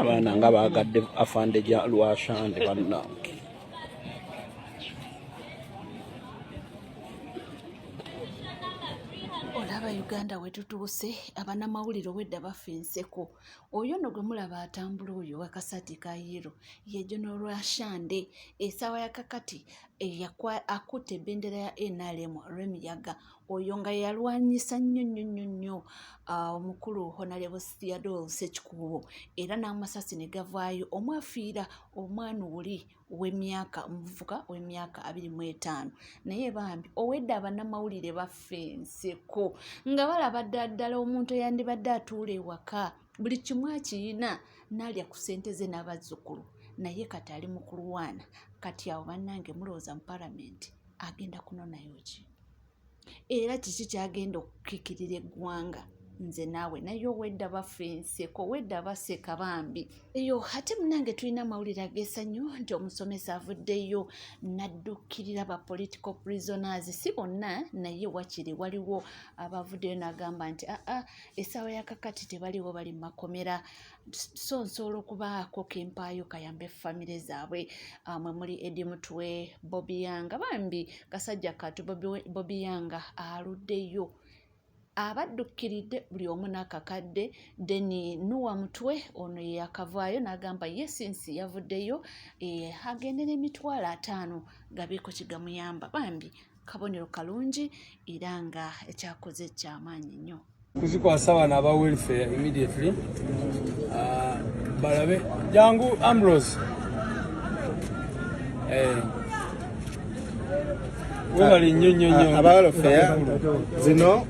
abaana nga bagadde afande ja lwashande bannange olaba uganda wetutuuse abanamawulire obwedda bafa enseko oyo no gwe mulaba atambula oyo wakasati ka yero ye general ashande esawa ya kakati eyakwa akutte ebendera ya nrm remiyaga oyo nga yalwanyisa nnyo nnyo nnyo nnyo ah, omukulu honalebo theodol sekikuubo era n'amasasi ne gavaayo omwafiira omwana oli wemyaka omuvubuka wemyaka abiri mu etaano naye bambi owedde abanamawulire baffe enseko nga balaba ddala ddala omuntu eyandibadde atuula ewaka buli kimu akiyina nalya ku sente ze n'abazzukulu naye kati ali mu kulwana kati awo bannange mulowooza mu palamenti agenda kunonayo ki era kiki kyagenda okukikirira eggwanga nze naawe naye owedda bafa enseko owedda baseka bambi eyo ate munange tulina amawulire agesanyu nti omusomesa avuddeyo naddukirira ba political prisoners si bonna naye wakiri waliwo abavuddeyo nagamba nti aa ah, ah, essaawa yakakati tebaliwo bali mumakomera so nsobola okubaako kempaayo kayambe famire zaabwe ah, mwe muli edi mutwe bobiyanga bambi kasajja katu bobiyanga aluddeyo abaddukiridde buli omu n'akakadde deni nuwa mutwe ono yeyakavaayo n'agamba ye sinsi yavuddeyo eh, agende n'emitwalo ataano gabeeko kigamuyamba bambi kabonero kalungi era nga ekyakoze ekyamaanyi nnyo kuzikwasa bano aba welfare immediately ah, balabe jangu ambrose eh. webale nnyo nnyo nnyo ah, aba welfare zino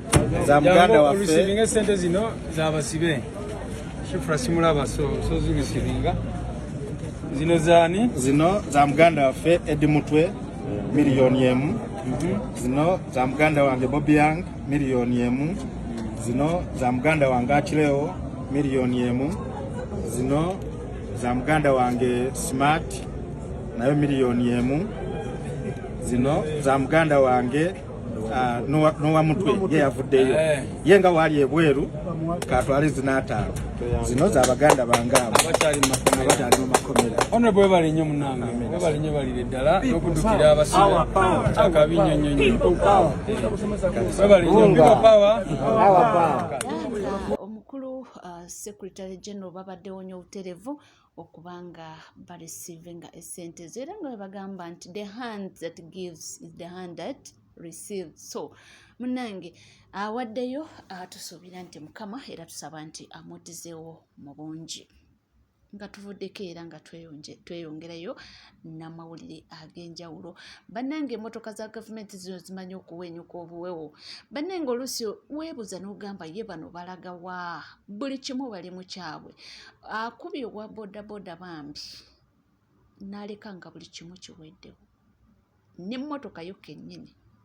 za muganda waffe olusiibinga esente zino zabasibe shifura simulaba so so zirisiibinga zino zaani zino za muganda waffe edi mutwe miliyoni emu zino za muganda wange Bobi Young miliyoni emu zino za muganda wange Achileo miliyoni emu zino za muganda wange Smart nayo miliyoni emu zino za muganda wange Ah, nowa mutwe ye yavuddeyo eh. ye nga waali ebweru katwale zinaataano zino za baganda bange abo abakyali mu makomera ono bwebale nnyo munange bwebale nnyo balire ddala n'okudukira abasibe akabi nnyo nnyo nnyo bwebale nnyo biba pawa omukulu uh, secretary general babaddewo nnyo obuterevu okuba nga barecevinga esente ezo era nga webagamba nti the hand that gives is the hand that receive so munange awaddeyo atusuubira nti mukama era tusaba nti amuddizewo mu bungi nga tuvuddeko era nga tweyongerayo n'amawulire ag'enjawulo bannange emmotoka za gavumenti zino zimanyi okuwenyuka obuwewo bannange oluusi weebuza n'ogamba ye bano balaga wa buli kimu bali mu kyabwe akubi owa bodaboda bambi n'aleka nga buli kimu kiweddewo n'emmotoka yo kennyini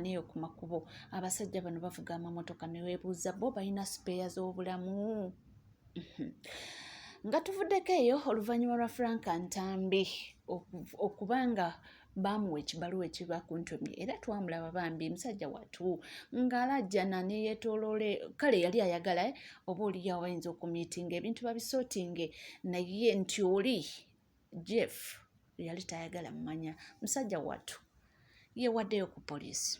neyo ku makubo abasajja bano bavuga amamotoka newebuuza bo balina sipeeya z'obulamu mhm. nga tuvuddeko eyo oluvannyuma lwa frank ntambi okuba nga baamuwa ekibaluwa ekiba ku ntomi era twamulaba bambi musajja watu ng'alajjana ne yeetooloole kale yali ayagala eh, oba oliyo abayinza okumiitinga ebintu babisotinge naye nti oli jeff yali tayagala mumanya musajja wattu yewaddeyo ku poliisi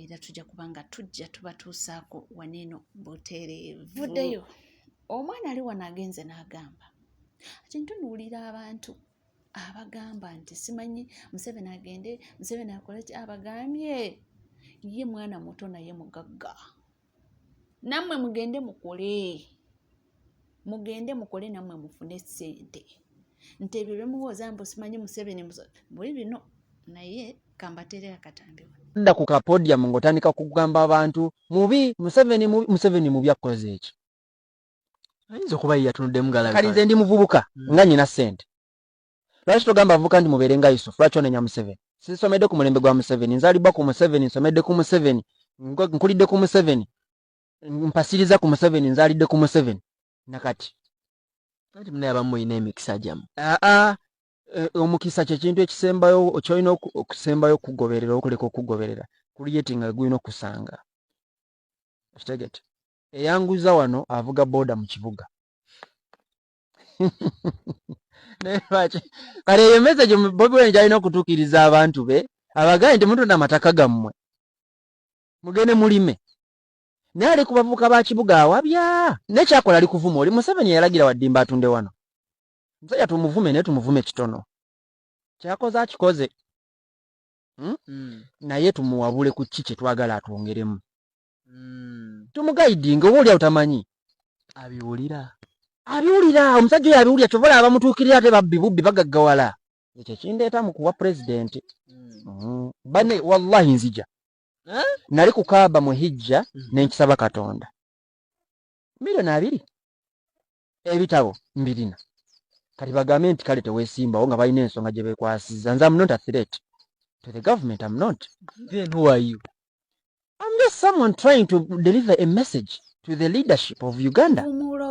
era tujja kuba nga tujja tubatuusaako waneeno butereevuddeyo omwana ali wano agenze n'agamba ati ntunuulira abantu abagamba nti simanyi museveni agende museveni akole ki abagambye ye mwana muto naye mugagga nammwe mugende mukole mugende mukole nammwe mufune sente nti ebyo byemuwooza mbu simanyi museveni buli bino naye kambateere akatambi da ku kapodium ng'otandika kugamba abantu mubi museveni mubi museveni mubi akkoze ekyo ayinza okuba ye yatunuddemu galabi kali nze ndi muvubuka hmm. nga nyina sente lwaki togamba abavubuka nti mubeere nga yusufu lwaki onenya museveni sinsomedde ku mulembe gwa museveni nzalibwa ku museveni nsomedde ku museveni nkulidde ku museveni mpasiriza ku museveni nzalidde ku museveni nakati anti munaye abamu mulina emikisa gyamu aa eh, omukisa kyekintu ekisembayo kyolina okusembayo okugoberera okuleka okugoberera kuliyeti nga gulina okusanga kitegete eyanguza wano avuga boda mu kibuga kale eyo message bobi wine gyalina okutuukiriza abantu be abagaye nti mutunda amataka gammwe mugende mulime naye ali ku bavubuka ba kibuga awabya naye kyakola ali kuvuma oli museveni yalagira waddimba atunde wano musajja tumuvume naye tumuvume kitono kyakoze akikoze hmm? Hmm. naye tumuwabule ku ki kyetwagala atwongeremu mm. tumugayidinga oba olyawo tamanyi abiwulira abiwulira omusajja oyo abiwulira kyova olaba bamutuukirira ate babbi bubbi bagaggawala ekyo kindeeta mu kuwa pulezidenti mm. mm. bane wallahi nzija eh? nali ku kaaba mu hijja mm. nenkisaba katonda milioni abiri ebitabo mbirina kati bagambe nti kale tewesimbawo nga balina ensonga gye bekwasiza nze am not a threat to the government am not then who are you am just someone trying to deliver a message to the leadership of uganda umulo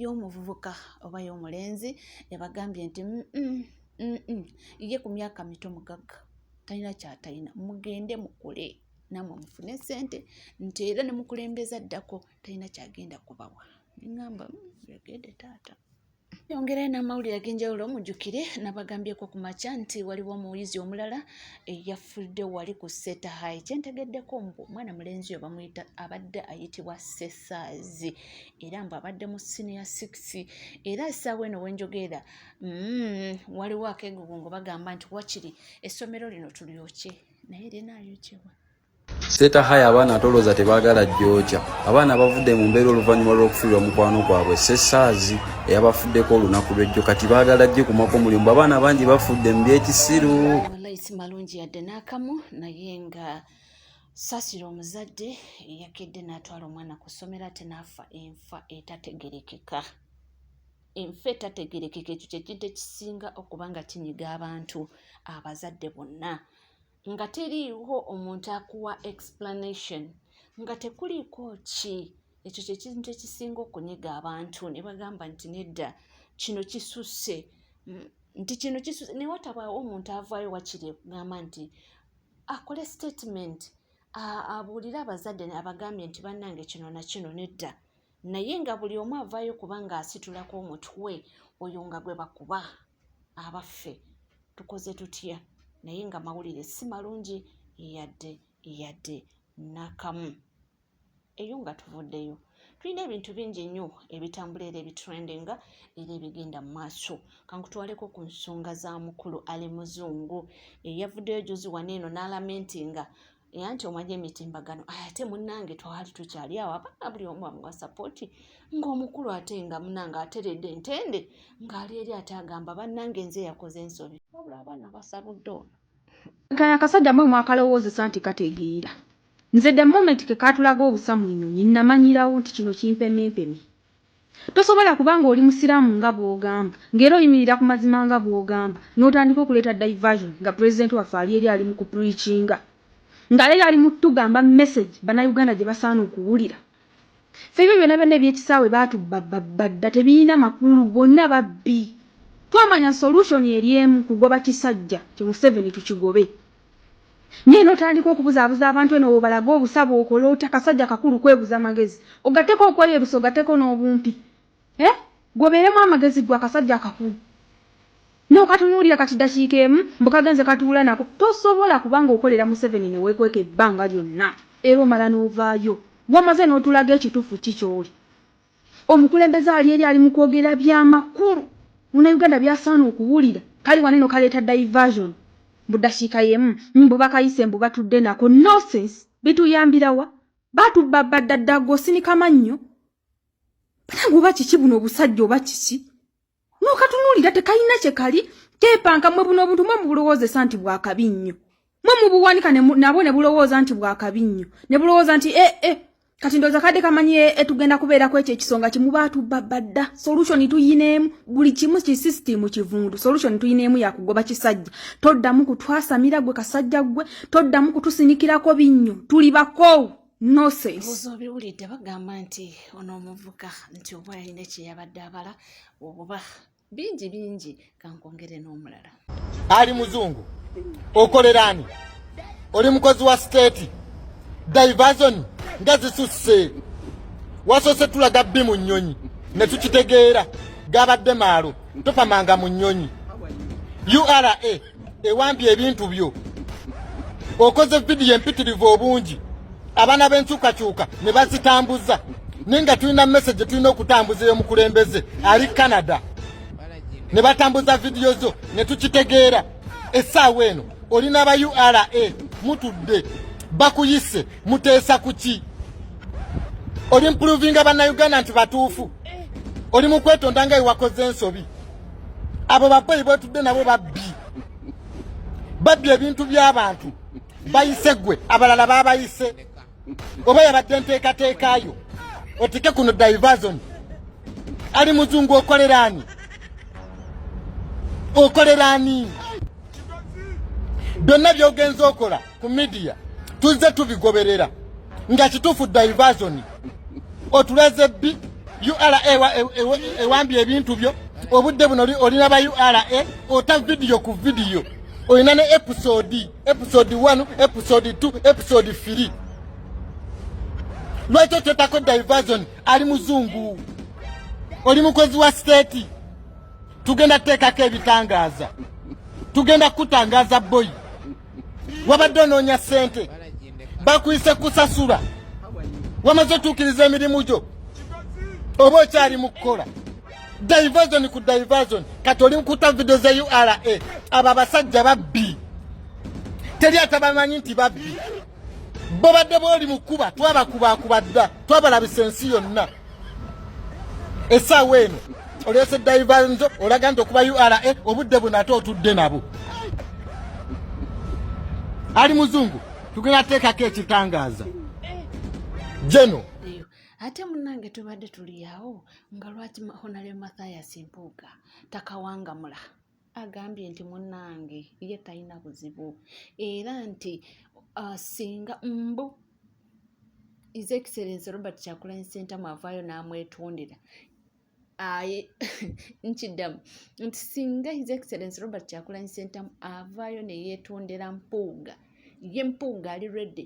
y'omuvubuka oba y'omulenzi ebagambye nti mm -mm, mm -mm. ye ku myaka mito mugagga talina kyatalina mugende mukule namwe mufune sente nti era nemukulembeza ddako talina kyagenda kubawa nengamba yogede hmm, taata yongerayo n'amawulire ag'enjawulo mujjukire nabagambyeko ku makya nti waliwo omuyizi omulala eyafudde wali ku seta hai kyentegeddeko mbu omwana mulenzi oyo bamuyita abadde ayitibwa sesaazi era mbu abadde mu siniya six era essaawa eno wenjogeera mm, waliwo akegugungo bagamba nti wakiri essomero lino tulyokye naye linaayokyewa Seeta haya abaana atolooza tebaagala jooja. Abaana abavudde mu mbeera oluvannyuma lw'okufiirwa mukwano gwabwe Ssessaazi eyabafuddeko olunaku lw'ejjo kati baagala ajje kumako omulimu. Abaana bangi bafudde mu by'ekisiru. Wallayi si malungi yadde n'akamu naye nga saasira omuzadde eyakedde n'atwala omwana ku ssomero ate n'afa enfa etategerekeka. enfa etategerekeka ekyo kyekintu ekisinga okuba nga kinyiga abantu abazadde bonna nga teriiwo omuntu akuwa explanation nga tekuliiko ki ekyo kyekintu ekisinga okunyiga abantu ne bagamba nti nedda kino kisusse mm, nti kino kisusse naye watabaawo omuntu avaayo wakiri okugamba nti akole statement abuulire abazadde abagambye nti bannange kino na kino nedda naye nga buli omu avaayo kuba nga asitulako omutwe oyo nga gwe bakuba abaffe tukoze tutya naye nga mawulire si malungi yadde yadde nakamu eyo nga tuvuddeyo tulina ebintu bingi nnyo ebitambula era ebitrendinga era ebigenda mu maaso kankutwaleko ku nsonga za mukulu ali muzungu eyavuddeyo juzi wano eno n'alamentinga era nti omwaja emitimbagano ate munange twali tukyali awo abaana buli omu amuwa sapoti ng'omukulu ate nga munange ateredde ntende ng'ali eri ate agamba bannange nze yakoze ensobi wabula abaana basabudde ono kano akasajja mwe mwakalowoozesa nti kategeera nze the moment kekatulaga obusa mu nyonyi namanyirawo nti kino kimpemyempemye Tosobola kuba nga oli musiramu nga bwogamba, nga era oyimirira ku mazima nga bwogamba, notandika okuleeta diversion nga president waffe ali eri ali mu ku preachinga, nga eri ali mu tugamba message bana Uganda gyebasaana okuwulira. Ffe ebyo byona byona ebyekisaawe batubba babba dda tebiyina makulu bonna babbi. Twamanya solution eri emu kugoba kisajja kyo museveni tukigobe. naye notandika okubuzaabuza abantu eno wobalaga obusa bwokola otya kasajja kakulu kwebuza magezi ogateko okweyerusa ogateko n'obumpi eh gwe obeeremu amagezi gwe akasajja akakulu nokatunuulira kati dakiika emu mbu kagenze katuula nako tosobola kubanga okolera museveni newekweka ebbanga lyonna era omala novaayo wamaze notulaga ekitufu ki kyoli Omukulembeze ali eri ali mu kwogera bya makulu muna Uganda byasaana okuwulira. Kali wano eno kaleeta diversion mbu dakiika yemu mbu bakayise mbu batudde nako nosense bituyambira wa? Batubba bba dda dda gwe osinika mannyo? Banange oba kiki buno obusajja oba kiki? nokatunulira tekalina kyekali kepanka mwe buno obuntu mwe mubulowoozesa nti bwakabi nnyo mwe mubuwanika nabwo ne bulowooza nti bwakabi nnyo ne bulowooza nti e e kati ndowooza kadde kamanyi etugenda eh, kubeerako ekyo ekisonga kimuba atubba badda solution tuyineemu buli kimu ki system kivundu solution tuyineemu yakugoba kisajja toddamu kutwasamira gwe kasajja gwe toddamu kutusinikirako binnyo tuli bakoowu obiwulidde bagamba nti ono omuvuka nti oba yalina kyeyabadde abala obuba bingi bingi kankwongere n'omulala ali muzungu okolera ani oli mukozi wa siteeti divazoni nga zisusse wasoose tulaga bbi mu nnyonyi ne tukitegeera gabadde maalo tofamanga mu nnyonyi ura ewambye ebintu byo okoze vidiyo empitirivu obungi abaana b'enkyukakyuka ne bazitambuza naye nga tulina mesage tulina okutambuza eyomukulembeze ali canada ne batambuza vidiyo zo ne tukitegeera essaawa eno oli n'aba ura mutudde bakuyise muteesa ku ki oli mpuruvinga bannayuganda nti batuufu oli mu kwetonda nga ewakoze ensobi abo bakoyi bwetudde nabo babbi babbi ebintu by'abantu bayise gwe abalala babayise oba yabadde enteekateekayo otike kuno diversion ali muzungu okoleraani okoleraani byonna byogenza okola ku midiya tuzze tubigoberera nga kituufu diversion otulaze bbi ura ewambye ebintu byo obudde buno olina ba ura ota vidiyo ku vidiyo olina ne episode episode 1 episode 2 episode 3 lwaki okyotako diversion ali muzungu oli mukozi wa state tugenda kuteekako ebitangaaza tugenda kukutangaza boyi wabadde onoonya ssente bakuyise kusasula wamaze otuukiriza emirimu gyo oba okyali mu kukola diversion ku diversion kati oli mukuta video za ura abo abasajja babbi teri atabamanyi nti babbi bobadde bwoli mu kuba twabakubakuba dda twabalabisa ensi yonna esaawa eno oleese daivanzo olaga nti okuba ura obudde buno ate otudde nabo ali muzungu tugenda teekako ekitangaaza jeno ate munange tubadde tuliyawo nga lwaki honalyo mathayas mpuuga takawangamula agambye nti munnange ye talina buzibu era nti uh, singa mbu his excellence robert kyakulany sentamu avaayo n'amwetondera aye nkiddamu nti singa his excellence robert kyakulany sentamu avaayo neyeetondera mpuuga ye mpuuga ali ready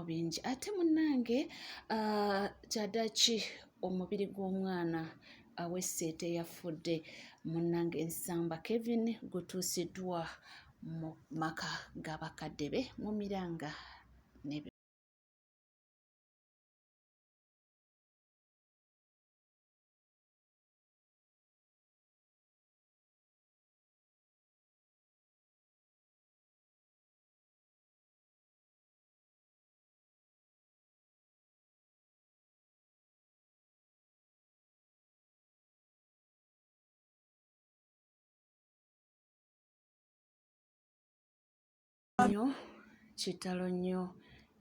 ebigambo bingi ate munnange ah, kyadaki omubiri gw'omwana awesse teyafudde munnange nsamba kevin gutuusiddwa mu maka ga bakadde be mu miranga nnyo kitalo nnyo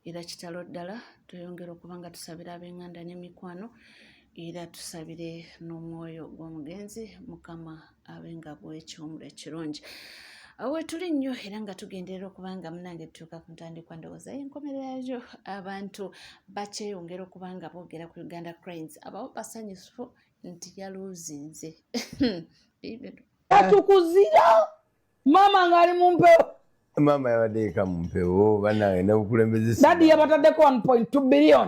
era kitalo ddala tweyongera okuba nga tusabira ab'enganda n'emikwano era tusabire n'omwoyo gw'omugenzi mukama abe nga bwekiwumulo ekirungi wetuli nnyo era nga tugenderera okuba nga munange tutuuka ku ntandikwa ndowooza yenkomerera yajo abantu bakyeyongera okuba nga boogera ku uganda cranes abawo basanyufu nti yaluuzinze atukuzira maama ngaali mu mpewo maama yabadeeka mu mpewo banaye nabukulembezedadi yabatadeko 1.2 billion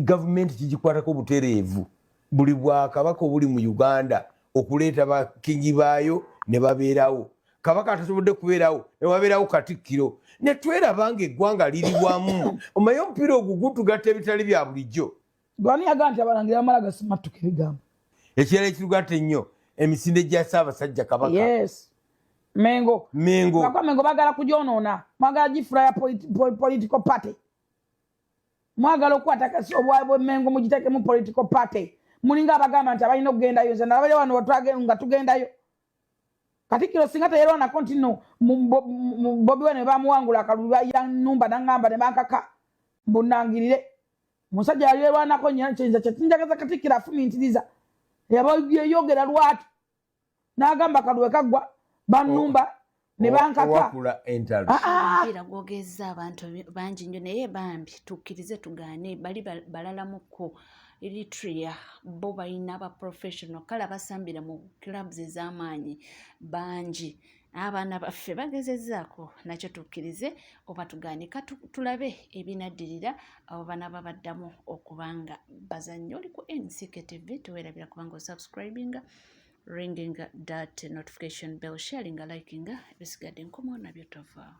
gavumenti kigikwatako obutereevu buli bwakabaka obuli mu uganda okuleeta bakingi baayo ne babeerawo kabaka atasobodde kubeerawo newabeerawo katikkiro netweraba nga eggwanga liri wamu omaye omupiira ogwo gutugatta ebitali bya bulijjo gwani yaga nti abalangira bamala gasimattuka ebigambo ekirala ekirugatta ennyo emisinde gya saabasajja kabaka yes. mengo mengo mengo bagala kujonoona mwagala gifula ya political party mwagala okukwata kasi obwabwemengo mugitekemu political party mulinga abagamba nti abalina okugendayo nze nalabale wano nga tugendayo katikiro singa teyerwanako nti no bobi wano ebamuwangula akalulu yanumba nangamba nebankaka mbunangirire musajja yali erwanako nyo kyenza kyetinjagaza katikiro afumintiriza yaba yeyogera lwatu n'agamba kalwe kaggwa bannumba oh. ne bankaka ah, ah. era gwogezza abantu bangi nnyo naye bambi tukkirize tugaane bali balalamukko eritrea bo balina ba professional kale abasambira mu clubs ez'amaanyi bangi abaana baffe bagezezaako nakyo tukkirize oba tugaanika tulabe ebinaddirira abo banaba baddamu okubanga bazannyi oli ku ncktv tuwerabira kubanga osubscribinga ringing that notification bell sharinga likinga ebisigadde nkomo nabyo tova